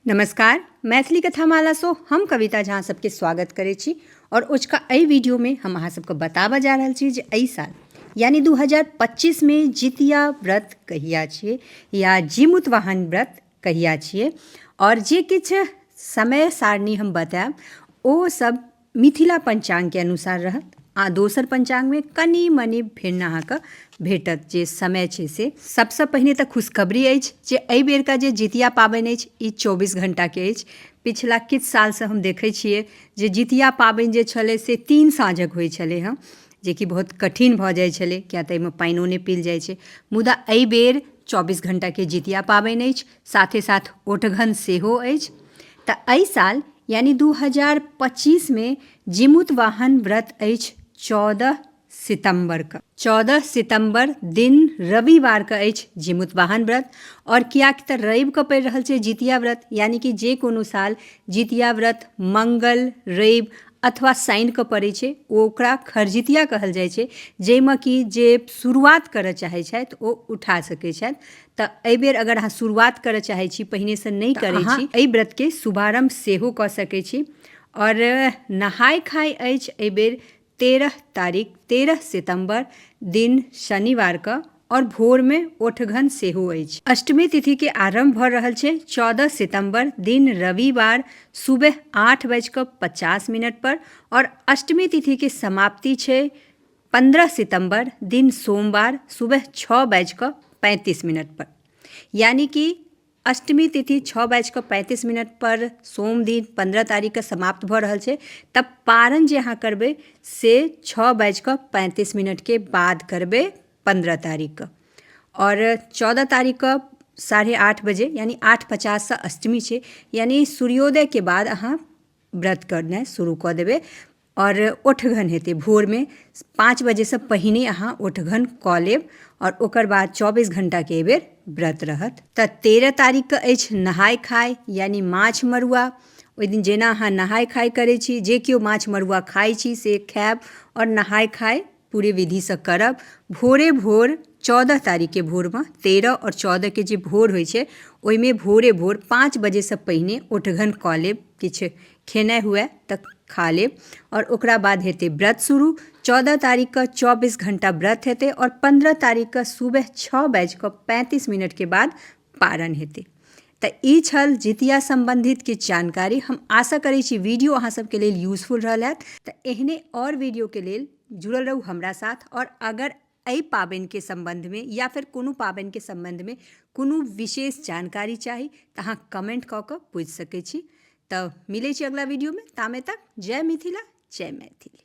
नमस्कार मैथिली कथामालासँ हम कविता झा सबके स्वागत करै छी आओर ओझका एहि वीडियोमे हम अहाँ सबके बताबऽ जा रहल छी जे एहि साल यानी 2025 मे जितिया व्रत कहिया छियै या जीमुतवाहन व्रत कहिया छियै आओर जे किछु समय सारणी हम बतायब ओ सब मिथिला पञ्चाङ्गके अनुसार रहत आ दोसर पञ्चाङ्गमे कनि मनि भिन्न अहाँके भेटत जे समय छै से सभसँ पहिने तऽ खुशखबरी अछि जे एहि बेरका जे जितिया पाबनि अछि ई चौबीस घण्टाके अछि पिछला किछु सालसँ हम देखै छियै जे जितिया पाबनि जे छलै से तीन साँझक होइ छलै हँ जेकि बहुत कठिन भऽ जाइ छलै किया तऽ एहिमे पानिओ नहि पील जाइ छै मुदा एहि बेर चौबीस घण्टाके जितिया पाबनि अछि साथे साथ ओठघन सेहो अछि तऽ एहि साल यानी दू हजार पच्चीसमे जिमुत वाहन व्रत अछि चौदह सितम्बरके चौदह सितम्बर दिन रविवारके अछि जिमुत वाहन व्रत आओर किएक तऽ रविके पड़ि रहल छै जितिया व्रत यानी कि जे कोनो साल जितिया व्रत मंगल रवि अथवा शनिके पड़ै छै ओकरा खरजितिया कहल जाइ छै जाहिमे कि जे शुरुआत करऽ चाहै छथि ओ उठा सकै छथि तऽ एहि बेर अगर अहाँ शुरुआत करय चाहैत छी पहिनेसँ नहि करैत छी एहि व्रतके शुभारम्भ सेहो कऽ सकैत छी आओर नहाय खाय अछि एहि बेर तेरह तारीख तेरह सितम्बर दिन शनिवारके आओर भोरमे ओठघन सेहो अछि अष्टमी तिथिके आरम्भ भऽ रहल छै चौदह सितम्बर दिन रविवार सुबह आठ बाजि कऽ पचास मिनटपर आओर अष्टमी तिथिके समाप्ति छै पन्द्रह सितम्बर दिन सोमवार सुबह छओ बाजि कऽ पैंतीस मिनट पर यानि कि अष्टमी तिथि छओ बाजि कऽ पैंतीस मिनट पर सोम दिन पन्द्रह तारीख के समाप्त भऽ रहल छै तब पारण जे अहाँ करबै से छओ बाजि कऽ पैंतीस मिनट के बाद करबै पन्द्रह तारीख के आओर चौदह तारीख के साढ़े आठ बजे यानि आठ पचास सँ अष्टमी छै यानि सूर्योदय के बाद अहाँ व्रत करनाइ शुरू कऽ देबै आओर ओठगन हेतै भोरमे पाँच बजेसँ पहिने अहाँ ओठगन कऽ लेब आओर ओकर बाद चौबीस घण्टाके एहि बेर व्रत रहत तऽ तेरह तारीखके अछि नहाइ खाइ यानि माछ मरुआ ओहि दिन जेना अहाँ नहाइ खाइ करै छी जे केओ माछ मरुआ खाइ छी से खाएब आओर नहाइ खाइ पूरे विधिसँ करब भोरे भोर चौदह तारीखके भोरमे तेरह आओर चौदहके जे भोर होइ छै ओहिमे भोरे भोर पाँच बजेसँ पहिने ओठघन कऽ लेब किछु खेनाइ हुअए तऽ खा लेब आओर ओकरा बाद हेतै व्रत शुरू चौदह तारीखके चौबीस घण्टा व्रत हेतै आओर पनरह तारीखके सुबह छओ बाजिकऽ पैँतिस मिनटके बाद पारन हेतै तऽ ई छल जितिया सम्बन्धित किछु जानकारी हम आशा करैत छी वीडियो अहाँ सभके लेल यूजफुल रहल हैत तऽ एहने आओर वीडियोके लेल जुड़ल रहू हमरा साथ आओर अगर एहि पाबनिके सम्बन्धमे या फेर कोनो पाबनिके सम्बन्धमे कोनो विशेष जानकारी चाही तऽ अहाँ कमेंट कऽ कऽ पूछि सकैत छी तऽ मिलैत छी अगला वीडियोमे तामे तक जय मिथिला जय मैथिली